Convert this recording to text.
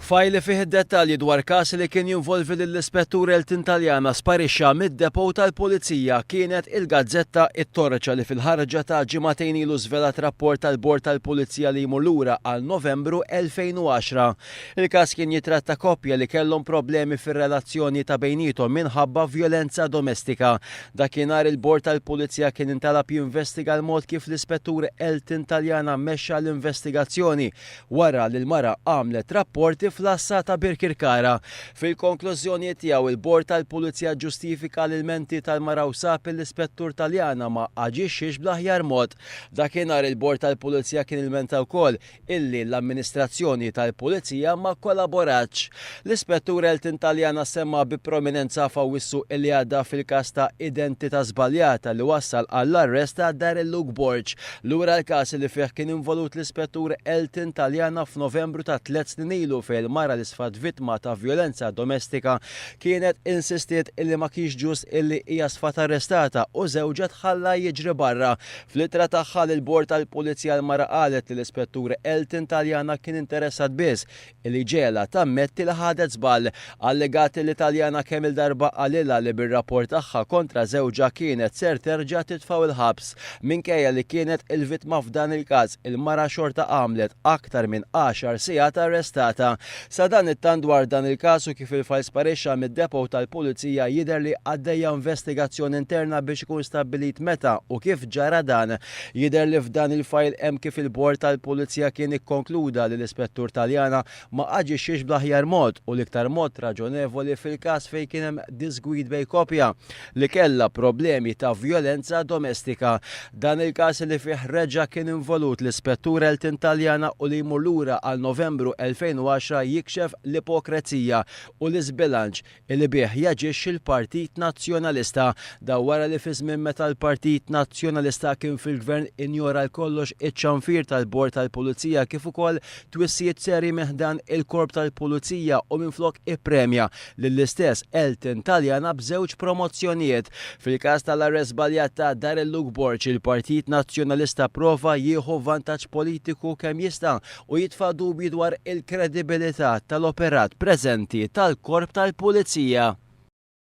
Fajl li fih id-dettalji dwar każ li kien jinvolvi lill-Ispettur Elton Taljana sparixxa mid-depot tal-Pulizija kienet il-gazzetta It-Torċa li fil-ħarġa ta' ġimagħtejn ilu żvelat rapport tal-Bord tal-Pulizija li jmur lura għal Novembru 2010. Il-każ kien jitratta koppja li kellhom problemi fir-relazzjoni ta' bejniethom minħabba vjolenza domestika. Dakinhar il-Bord tal-Pulizija kien intalab jinvestiga l-mod kif l-Ispettur Elton Taliana mexxa l-investigazzjoni wara li l-mara għamlet rapporti fl-Għassa ta' Birkirkara. Fil-konklużjonijiet tiegħu l-Bord tal-Pulizija ġġustifika l-ilmenti tal-mara u sab li l-Ispettur Taliana ma aġixxiex bl-aħjar mod. Dakinhar il-Bord tal-Pulizija kien ilmenta wkoll illi l-amministrazzjoni tal-pulizija ma kkollaboratx. L-Ispettur Elton Taliana semma bi prominenza f'Awwissu li għadda fil-każ ta' identità żbaljata li wassal għall-arrest ta' Darryl Luke Borg. Lura l-każ li fih kien involut l-Ispettur Elton Taliana f'Novembru ta' tliet snin ilu fejn il-mara li sfat vittma ta' vjolenza domestika kienet insistiet illi ma kienx ġust illi hija sfat arrestata u żewġha tħalla jiġri barra Fl-ittra tagħha lill-Bord tal-Pulizija l-mara qalet li l-Ispettur Elton Taliana kien interessat biss li jġegħlha tammetti li ħadet żball. Allegat li Taliana kemm-il darba qalilha li bir-rapport tagħha kontra żewġha kienet ser terġa' titfgħu l-ħabs. Minkejja li kienet il-vittma f'dan il-każ, il-mara xorta għamlet aktar minn għaxar sigħat arrestata. Sadanittant dwar dan il-każ u kif il-fajl sparixxa mid-depot tal-Pulizija jidher li għaddejja investigazzjoni interna biex ikun stabbilit meta u kif ġara dan. Jidher li f'dan il-fajl hemm kif il-Bord tal-Pulizija kien ikkonkluda li l-Ispettur Taliana ma aġixxiex bl-aħjar mod u l-iktar mod raġonevoli fil-każ fejn kien hemm diżgwid bejn koppja li kellha problemi ta' vjolenza domestika. Dan il-każ li fih reġa' kien involut l-Ispettur Elton Taliana u li jmur lura għal Novembru 2010 jikxef l-ipokrezija u l-iżbilanċ li bih jaġixxi l-Partit Nazzjonalista. Dan wara li fi żmien meta l-Partit Nazzjonalista kien fil-Gvern injora l-kollox iċ-ċanfir tal-Bord tal-Pulizija kif ukoll twissijiet serji minn ħdan il-Korp tal-Pulizija u minflok ippremja lill-istess Elton Taliana b'żewġ promozzjonijiet. Fil-każ tal-arrest żbaljat ta' Darrell Luke Borg, il-Partit Nazzjonalista pprova jieħu vantaġġ politiku kemm jista' u jitfa' dubji dwar il-kredibilità tal-operat preżenti tal-Korp tal-Pulizija.